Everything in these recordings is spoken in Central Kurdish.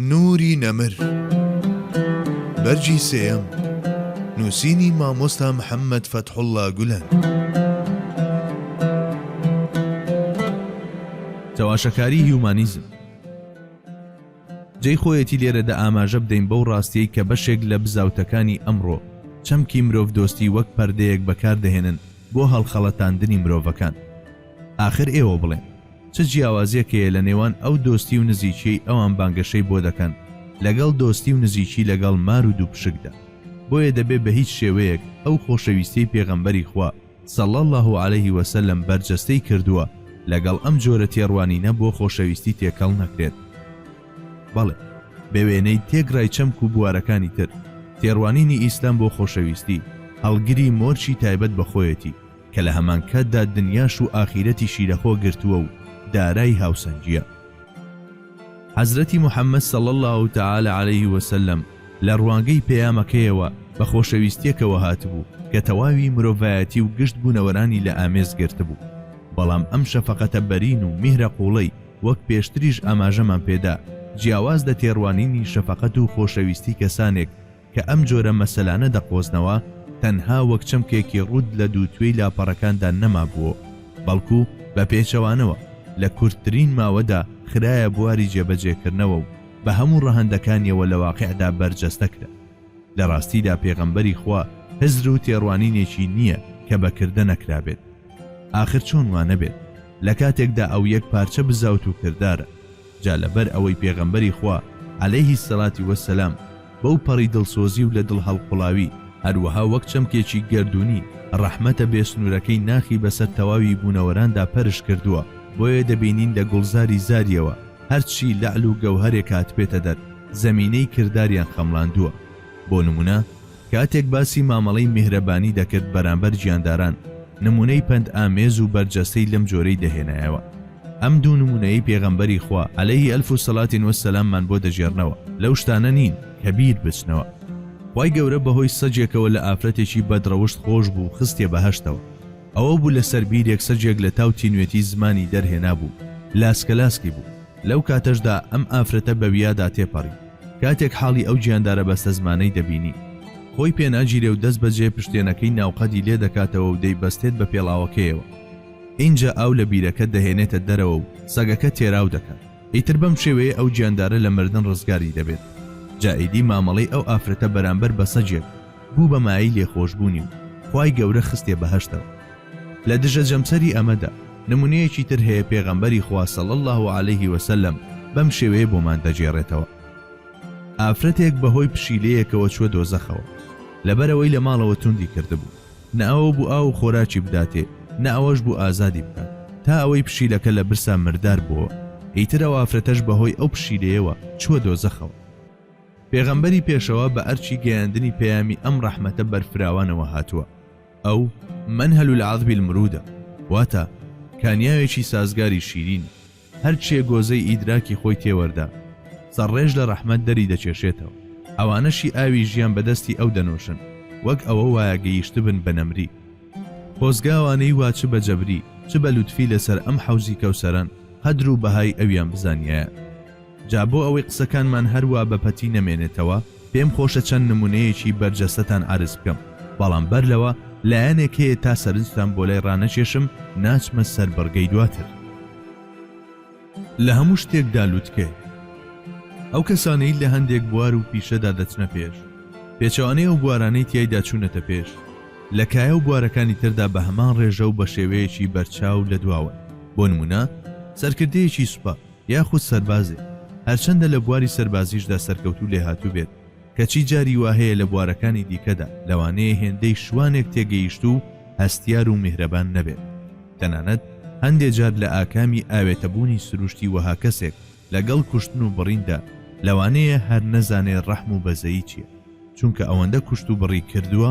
نوری نەمر، بەرگی سێیەم، نووسینی مامۆستا محەممەد فەتحوڵڵا گولەن. چەواشەکاری هیومانیزم جێی خۆیەتی لێرەدا ئاماژە بدەین بەو ڕاستیەی کە بەشێک لە بزاوتەکانی ئەمڕۆ چەمکی مرۆڤدۆستی وەک پەردەیەک بەکاردەهێنن بۆ هەڵخەڵەتاندنی مرۆڤەکان، ئاخر ئێوە بڵێن چ جیاوازیەک هەیە لە نێوان ئەو دۆستی و نزیکیەی ئەوان بانگەشەی بۆ دەکەن لەگەڵ دۆستی و نزیکی لەگەڵ مار و دووپشکدا بۆیە دەبێ بە هیچ شێوەیەک ئەو خۆشەویستیەی پێغەمبەری خوا صلی اللە علیه وسلم بەرجەستەی کردووە لەگەڵ ئەم جۆرە تێڕوانینە بۆ خۆشەویستی تێکەڵ نەکرێت بەڵێ بە وێنەی تێکڕای چەمک و بوارەکانی تر تێڕوانینی ئیسلام بۆ خۆشەویستی هەڵگری مۆرکی تایبەت بە خۆیەتی کە لە هەمانکاتدا دنیاش و ئاخیرەتیشی لە خۆ گرتووە و دارای هاوسەنگییە. حەزرەتی محەمەد صلی اللە تعالی علیە وسلم لە ڕوانگەی پەیامەکەیەوە بە خۆشەویستیەکەوە هاتبوو کە تەواوی مرۆڤایەتی و گشت بوونەوەرانی لە ئامێز گرتبوو، بەڵام ئەم شەفەقەتە بەرین و میهرە قوڵەی وەک پێشتریش ئاماژەمان پێدا جیاواز لە تێڕوانینی شەفەقەت و خۆشەویستی کەسانێک، کە ئەم جۆرە مەسەلانە دەقۆزنەوە تەنها وەک چەمکێکی ڕووت لە دووتوێی لاپەڕەکاندا نەمابوو و بەڵکو بە پێچەوانەوە لە کورتترین ماوەدا خرایە بواری جێبەجێکردنەوە و بە هەموو ڕەهەندەکانیەوە لە واقیعدا بەرجەستە کرا. لە ڕاستیدا پێغەمبەری خوا هزر و تێڕوانینێکی نییە کە بە کردە نەکرابێت. ئاخر چۆن وا نەبێت لە کاتێکدا ئەو یەک پارچە بزاوت و کردارە. جا لەبەر ئەوەی پێغەمبەری خوا، علیە الصلوە و السلام، بەو پەڕی دڵسۆزی و لە دڵ هەڵقوڵاوی، هەروەها وەک چەمکێکی گەردوونی، ڕەحمەتە بێ سنوورەکەی ناخی بەسەر تەواوی بوونەوەراندا پەرش کردووە، بۆیە دەبینین لە گوڵزاری زاریەوە، هەرچی لەعل و گەوهەرێک هاتبێتە دەر، زەمینەی کرداریان خەمڵاندووە. بۆ نموونە. کاتێک باسی مامەڵەی میهرەبانی دەکرد بەرامبەر گیانداران، نمونەی پەند ئامێز و بەرجەستەی لەم جۆرەی دەهێنایەوە. ئەم دوو نمونەیەی پێغەمبەری خوا، علیه الف صلوة و سلام، مان بۆ دەگێڕنەوە، لەو شتانە نین کە بیر بچنەوە. خوای گەورە بەهۆی سەگێکەوە لە ئافرەتێکی بەد ڕەوشت خۆش بوو خستیە بەهەشتەوە. ئەوە بوو لەسەر بیرێک سەگێک لە تاو تینوێتی زمانی دەرهێنابوو لاسکەلاسکی بوو. لەو کاتەشدا ئەم ئافرەتە بەویادا تێپەڕی. کاتێک حاڵی ئەو گیاندارە بەستەزمانەی دەبینی، خۆی پێناگیرێ و دەستبەجێ پشتێنەکەی ناوقەدی لێ دەکاتەوە و دەیبەستێت بە پێڵاوەکەیەوە. ئینجا ئاو لە بیرەکە دەهێنێتە دەرەوە و سەگەکە تێراو دەکات. ئیتر بەم شێوەیە ئەو گیاندارە لە مردن ڕزگاری دەبێت. جا ئیدی مامەڵەی ئەو ئافرەتە بەرامبەر بە سەگێک بوو بە مایەی لێخۆشبوونی و خوای گەورە خستیە بەهەشتەوە. لە دژە جەمسەری ئەمەدا نمونەیەکی تر هەیە پێغەمبەری خوا صلی اللە علیە وسلم بەم شێوەیە بۆمان دەگێڕێتەوە، ئافرەتێک بەهۆی پشیلەیەکەوە چووە دۆزەخەوە، لەبەرئەوەی لە ماڵەوە توندی کردبوو، نە ئەوە بوو ئاو و خۆراکی بداتێ، نە ئەوەش بوو ئازادی بکات، تا ئەوەی پشیلەکە لە برسا مردار بۆوە، ئیتر ئەو ئافرەتەش بەهۆی ئەو پشیلەیەوە چووە دۆزەخەوە. پێغەمبەری پێشەوا بە ئەرکی گەیاندنی پەیامی ئەم ڕەحمەتە بەرفراوانەوە هاتووە، ئەو، منهل العذب المرودە، واتە، کانیاوێکی سازگاری شیرین، هەرچێ گۆزەی ئیدراکی خۆی تێوەردا، سەرڕێژ لە ڕەحمەت دەری دەکێشێتەوە، ئەوانەشی ئاوی ژیان بە دەستی ئەو دەنۆشن، وەک ئەوە وایە گەیشتبن بە نەمری. خۆزگا ئەوانەی وا چ بە جەبری، چ بە لوتفی لەسەر ئەم حەوزی کەوسەرەن، قەدر و بەهای ئەویان بزانیایە. جا بۆ ئەوەی قسەکانمان هەر وا بە پەتی نەمێنێتەوە، پێم خۆشە چەند نمونەیەکی بەرجەستەتان عەرز بکەم بەڵام بەر لەوە لایەنێک هەیە تا سەرنجتان بۆ لای ڕانەکێشم ناچمە سەر بڕگەی دواتر لە هەموو شتێکدا لوتکەیە ئەو کەسانەی لە هەندێک بوار و پیشەدا دەچنە پێش پێچوانەی ئەو بوارانەی تایدا چوونەتە پێش لە کایە و بوارەکانی تردا بە هەمان ڕێژە و بە شێوەیەکی بەرچاو لە دواوە بۆ نمونە سەرکردەیەکی سوپا یاخود سەربازێک هەرچەندە لە بواری سەربازیشدا سەرکەوتوو لێهاتوو بێت، کەچی جاری وا هەیە لە بوارەکانی دیکەدا لەوانەیە هێندەی شوانێک تێگەیشتوو و هەستیار و میهرەبان نەبێت، تەنانەت هەندێ جار لە ئاکامی ئاوێتەبوونی سروشتی وەها کەسێک لەگەڵ کوشتن و بڕیندا لەوانەیە هەر نەزانێ ڕەحم و بەزەیی چییە. چونکە ئەوەندە کوشت و بڕی کردووە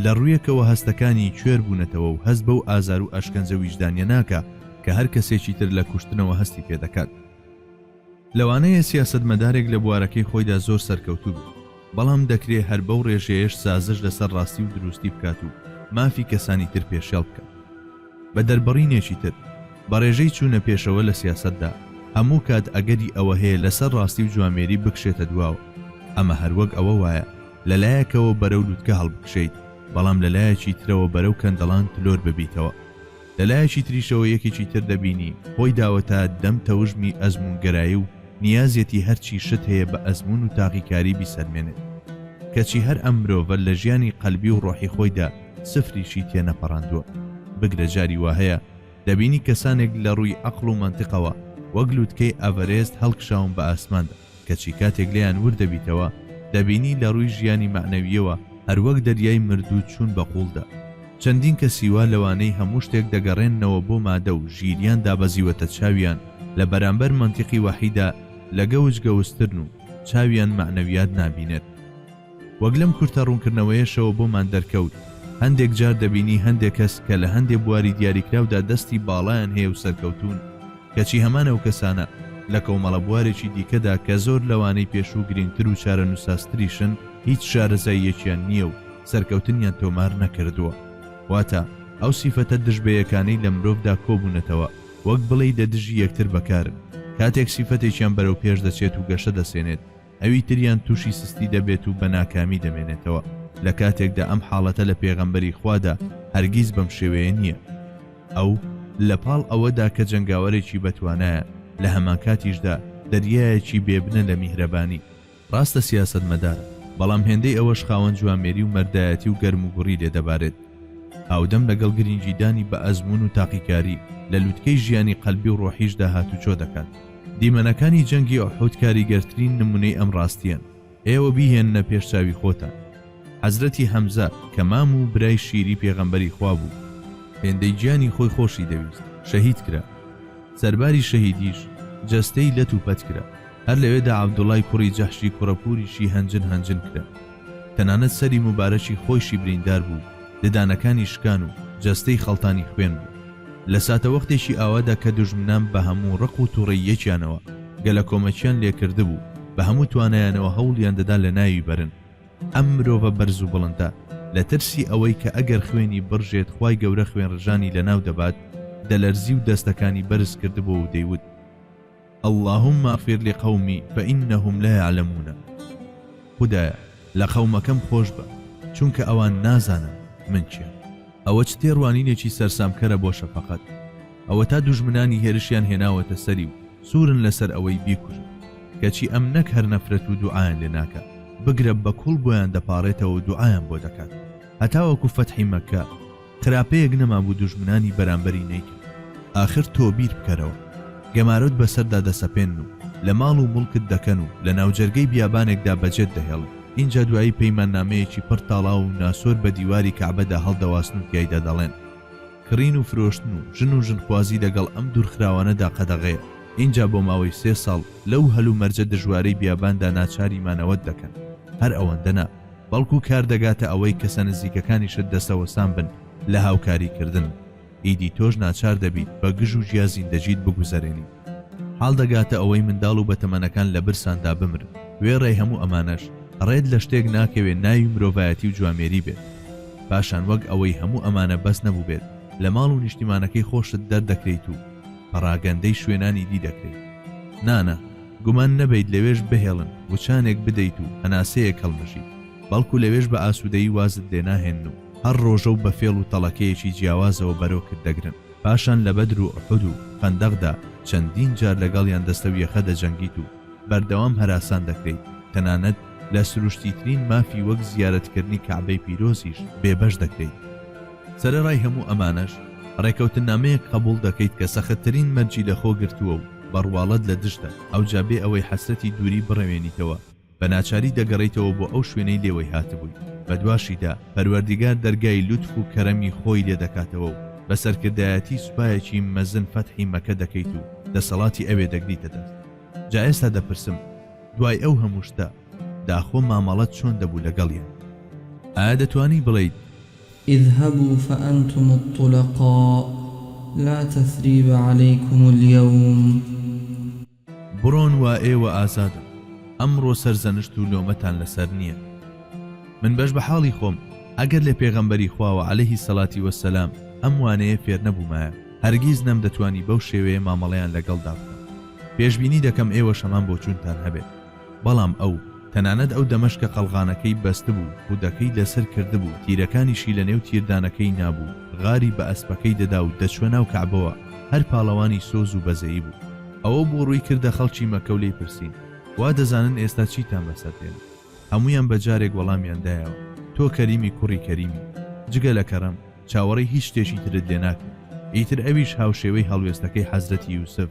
لە ڕوویەکەوە هەستەکانی کوێر بوونەتەوە و هەست بەو ئازار و ئەشکەنجە ویژدانیە ناکا کە هەر کەسێکی تر لە کوشتنەوە هەستی پێ دەکات. لەوانەیە سیاسەتمەدارێک لە بوارەکەی خۆیدا زۆر سەرکەوتوو بێت، بەڵام دەکرێ هەر بەو ڕێژەیەش سازش لەسەر ڕاستی و دروستی بکات و مافی کەسانی تر پێشێڵ بکات. بە دەربڕینێکی تر، بە ڕێژەی چوونە پێشەوە لە سیاسەتدا، هەموو کات ئەگەری ئەوە هەیە لەسەر ڕاستی و جوامێری بکشێتە دواوە. ئەمە هەر وەک ئەوە وایە لە لایەکەوە بەرەو لوتکە هەڵبکشێیت، بەڵام لە لایەکی ترەوە بەرەو کەندەڵان تلۆر ببیتەوە. لە لایەکی تریشەوە یەکێکی تر دەبینی خۆی داوە تا دەم تەوژمی ئەزموونگەرایی و نیازیەتی هەرچی شت هەیە بە ئەزموون و تاقیکاری بیسەلمێنێت. کەچی هەر ئەم مرۆڤە لە ژیانی قەلبی و ڕۆحی خۆیدا، سفریشی تێ نەپەڕاندووە، بگرە جاری وا هەیە دەبینی کەسانێک لە ڕووی عەقڵ و مەنتقەوە وەک لووتکەی ئەڤەرێست هەڵکشاون بە ئاسماندا، کەچی کاتێک لێیان ورد دەبیتەوە دەبینی لە ڕووی ژیانی مەعنەوییەوە هەر وەک دەریای مردوو چوون بە قووڵدا. چەندین کەسی وا لەوانەی هەموو شتێک دەگەڕێننەوە بۆ مادە و ژیریان دابەزیوەتە چاویان لە بەرامبەر مەنتیقی وەحیدا لە گەوج گەوجترن و چاویان مەعنەویات نابینێت. وەک لەم کورتە ڕوونکردنەوەیەشەوە بۆمان دەرکەوت، هەندێک جار دەبینی هەندێک کەس کە لە هەندێ بواری دیاریکراودا دەستی باڵایان هەیە و سەرکەوتوون، کەچی هەمان ئەو کەسانە لە کۆمەڵە بوارێکی دیکەدا کە زۆر لەوانەی پێشوو گرینگتر و چارەنووسسازتریشن، هیچ شارەزاییەکیان نییە و سەرکەوتنیان تۆمار نەکردووە. واتە ئەو سیفەتە دژبەیەکانەی لە مرۆڤدا کۆبوونەتەوە، وەک بڵێی دە دژی یەکتر بەکارن، کاتێک سیفەتێکیان بەرەو پێش دەچێت و گەشە دەسێنێت، ئەوی تریان تووشی سستی دەبێت و بە ناکامی دەمێنێتەوە لە کاتێکدا ئەم حاڵەتە لە پێغەمبەری خوادا هەرگیز بەم شێوەیە نییە ئەو لە پاڵ ئەوەدا کە جەنگاوەرێکی بەتوانایە لە هەمانکاتیشدا دەریایەکی بێبنە لە میهرەبانی ڕاستە سیاسەتمەدارە بەڵام هێندەی ئەوەش خاوەن جوامێری و مەردایەتی و گەرموگوڕی لێ دەبارێت هاودەم لەگەڵ گرنگیدانی بە ئەزموون و تاقیکاری لە لوتکەی ژیانی قەلبی و ڕۆحیشدا هاتوچۆ دەکات دیمەنەکانی جەنگی ئوحود کاریگەرترین نمونەی ئەم ڕاستیەن، ئێوە بیهێننە پێش چاوی خۆتان، حەزرەتی حەمزە کە مام و برای شیری پێغەمبەری خوا بوو، هێندەی گیانی خۆی خۆشی دەویست، شەهید کرا، سەرباری شەهیدیش جەستەی لەت و پەت کرا، هەر لەوێدا عەبدوڵای کوڕی جەحشی کوڕە پوریشی هەنجن هەنجن کرا. تەنانەت سەری موبارەکی خۆیشی بریندار بوو و ددانەکانی شکان و جەستەی خەڵتانی خوێن بوو. لە ساتەوەختێکی ئاوادا کە دوژمنان بە هەموو ڕق و توڕەییەکیانەوە گەلەکۆمەکیان لێکردبوو، بە هەموو توانایانەوە هەوڵیان دەدا لە ناوی بەرن. ئەم مرۆڤە بەرز و بڵندە لە ترسی ئەوەی کە ئەگەر خوێنی بڕژێت خوای گەورە خوێنڕژانی لەناو دەبات، دەلەرزی و دەستەکانی بەرز کردبوو و دەیوت. اللهم اغفر لقومی فانهم لا یعلمون خودایە لە قەومەکەم خۆشبە چونکە ئەوان نازانن من کێم ئەوە چ تێڕوانینێکی سەرسامکەرە بۆ شەفەقەت ئەوەتا دوژمنانی هێرشیان هێناوەتە سەری و سوورن لەسەر ئەوەی بیکوژن کەچی ئەم نەک هەر نەفرەت و دوعایان لێ ناکات بگرە بە کوڵ بۆیان دەپاڕێتەوە و دوعایان بۆ دەکات هەتاوەکو فەتحی مەککە خراپەیەک نەمابوو دوژمنانی بەرامبەری نەیکرد ئاخر تۆ بیر بکەرەوە گەمارۆت بەسەردا دەسەپێنن و لە ماڵ و موڵکت دەکەن و لە ناوجەرگەی بیابانێکدا بەجێت دەهێڵن ئینجا دوایی پەیماننامەیەکی پڕ تاڵاو و ناسۆر بە دیواری کەعبەدا هەڵدەواسن و تیایدا دەڵێن کڕین و فرۆشتن و ژن و ژنخوازی لەگەڵ ئەم دوورخراوانەدا قەدەغەیە ئینجا بۆ ماوەی سێ ساڵ لەو هەلومەرجە دژوارەی بیاباندا ناچاری مانەوەت دەکەن هەر ئەوەندە نا. بەڵکو کار دەگاتە ئەوەی کەسە نزیکەکانیشت دەستەوەستان بن لە هاوکاری کردن، ئیدی تۆش ناچار دەبیت بە گژ و جیا زیندەجیت بگوزەرێنیت. حاڵ دەگاتە ئەوەی منداڵ و بەتەمەنەکان لە برساندا بمرن. وێڕای هەموو ئەمانەش ڕێت لە شتێک ناکەوێت ناوی مرۆڤایەتی و جوامێری بێت. پاشان وەک ئەوەی هەموو ئەمانە بەس نەبووبێت لە ماڵ و نیشتیمانەکەی خۆشت دەردەکرێیت و پەڕاگەندەی شوێنانی دی دەکرێیت. نا نا! گومان نەبەیت لەوێش بهێڵن وچانێک بدەیت و هەناسەیەک هەڵمژیت، بەڵکو لەوێش بە ئاسوودەیی وازت لێ ناهێنن و هەر ڕۆژە و بە فێڵ و تەڵەکەیەکی جیاوازەوە بەرۆکت دەگرن. پاشان لە بەدر و ئوحود و خەندەقدا چەندین جار لەگەڵیان دەستە و یەخە دەجەنگیت و بەردەوام هەراسان دەکرێیت، تەنانەت لە سروشتیترین مافی وەک زیارەتکردنی کەعبەی پیرۆزیش بێبەش دەکرێیت. سەرەڕای هەموو ئەمانەش ڕێکەوتننامەیەک قەبوڵ دەکەیت کە سەختترین مەرجی لەخۆ گرتووە و بە ڕواڵەت لە دژتە، ئەوجا بێ ئەوەی حەسرەتی دووری بڕەوێنیتەوە بە ناچاری دەگەڕێیتەوە بۆ ئەو شوێنەی لێوەی هاتبووی، بەدواشیدا پەروەردیگار دەرگای لوتف و کەرەمی خۆی لێ دەکاتەوە و بە سەرکردایەتی سوپایەکی مەزن فەتحی مەکە دەکەیت و دەسەڵاتی ئەوێ دەگریتە دەست. جا ئێستا دەپرسم دوای ئەو هەموو شتە، داخۆ مامەڵەت چۆن دەبوو لەگەڵیان؟ ئایا دەتوانی بڵێیت. اذهبوا فانتم الطلقاء لا تثریب علیکم الیوم. بڕۆن وا ئێوە ئازادن، ئەمڕۆ سەرزەنشت و لۆمەتان لەسەر نییە. من بەش بە حاڵی خۆم ئەگەر لە پێغەمبەری خواوە علیە سەلاتی وە سەلام ئەم وانەیە فێر نەبوومایە هەرگیز نەمدەتوانی بەو شێوەیە مامەڵەیان لەگەڵدا بکەم. پێشبینی دەکەم ئێوەش هەمان بۆچوونتان هەبێت. بەڵام ئەو، تەنانەت ئەو دەمەش کە قەڵغانەکەی بەستبوو، خودەکەی لەسەر کردبوو، تیرەکانیشی لەنێو تیردانەکەی نابوو، غاری بە ئەسپەکەی دەدا و دەچووە ناو کەعبەوە، هەر پاڵەوانی سۆز و بەزەیی بوو. ئەوە بوو ڕووی کردە خەڵکی مەککە و لێی پرسین، وا دەزانن ئێستا چیتان بەسەر دێنم؟ هەموویان بە جارێک وەڵامیان دایەوە، تۆ کەریمی کوڕی کەریمی، جگە لە کەرەم، چاوەڕێی هیچ شتێکی ترت لێ ناکەین. ئیتر ئەویش هاوشێوەی هەڵوێستەکەی حەزرەتی یوسف،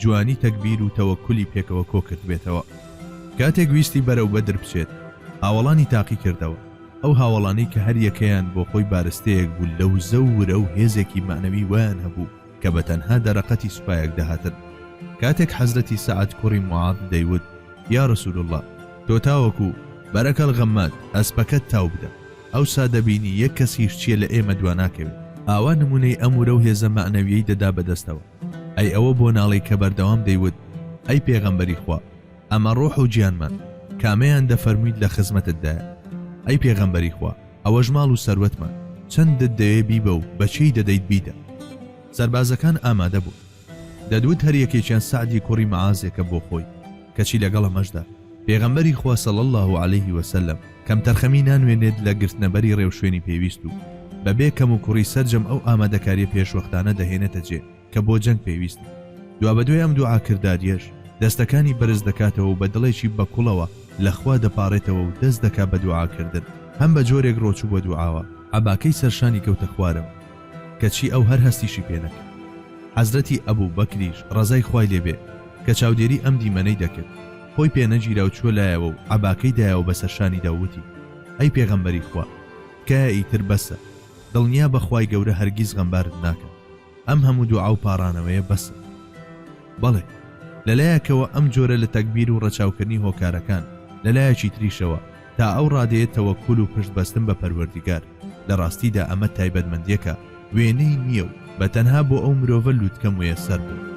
جوانی تەگبیر و تەوەکولی پێکەوە کۆکردبێتەوە. کاتێک ویستی بەرەو بەدر بچێت، هاوەڵانی تاقی کردەوە، ئەو هاوەڵانەی کە هەر یەکەیان بۆ خۆی بارستەیەک بوو لە وزە و ورە و هێزێکی مەعنەوی وایان هەبوو کە بە تەنها دەرەقەتی سوپایەک دەهاتن. کاتێک حەزرەتی سەعد کوڕی موعاض دەیوت، یا رسول اللە، تۆ تاوەکو، بەرەکەڵ غەماد، ئەسپەکەت تاو بدە. ئەوسا دەبینی یەک کەس هیشچیە لە ئێمە دوا ناکەوێت ئاوا نمونەی ئەم ورەو هێزە مەعنەویەی دەدا بەدەستەوە ئەی ئەوە بۆ ناڵێی کە بەردەوام دەیوت ئەی پێغەمبەری خوا ئەمە ڕۆح و گیانمان کامەیان دەفەرمویت لە خزمەتتدایە ئەی پێغەمبەری خوا ئەوەش ماڵ و سەروەتمان چەندت دەوێ بیبە و بە کێی دەدەیت بیدە سەربازەکان ئامادە بوون دەدوت هەر یەکێکیان سەعدی کوڕی معازێکە بۆ خۆی کەچی لەگەڵ ئەمەشدا پێغەمبەری خوا صلی اللە علیه و سلم کەمتەرخەمی نانوێنێت لە گرتنە بەری ڕێوشوێنی پێویست و بەبێ کەموکوڕی سەرجەم ئەو ئامادەکاریە پێشوەختانە دەهێنێتە جێ کە بۆ جەنگ پێویستن دوابەدوای ئەم دوعا کرداریەش دەستەکانی بەرز دەکاتەوە و بە دڵێکی بە کوڵەوە لە خوا دەپاڕێتەوە و دەست دەکا بە دوعا کردن هەم بە جۆرێک ڕۆچوو بە دوعاوە عەباکەی سەرشانی کەوتە خوارەوە. کەچی ئەو هەر هەستیشی پێ نەکرد. حەزرەتی ئەبو بەکریش ڕەزای خوای لێ بێ کە چاودێری ئەم دیمەنەی دەکرد، خۆی پێ نەگیرا و چووە لایەوە و عەباکەی دایەوە بە سەر شانیدا و وتی، ئەی پێغەمبەری خوا! تکایە ئیتر بەسە، دڵنیا بە خوای گەورە هەرگیز غەمبارت ناکات، ئەم هەموو دوعا و پاڕانەوەیە بەسە. بەڵێ، لە لایەکەوە ئەم جۆرە لە تەگبیر و ڕەچاوکردنی هۆکارەکان، لە لایەکی تریشەوە، تا ئەو ڕادەیە تەوەکول و پشت بەستن بە پەروەردیگار، لە ڕاستیدا ئەمە تایبەتمەندیەکە وێنەی نییە و بە تەنها بۆ ئەو مرۆڤە لوتکە مویەسەر بووە.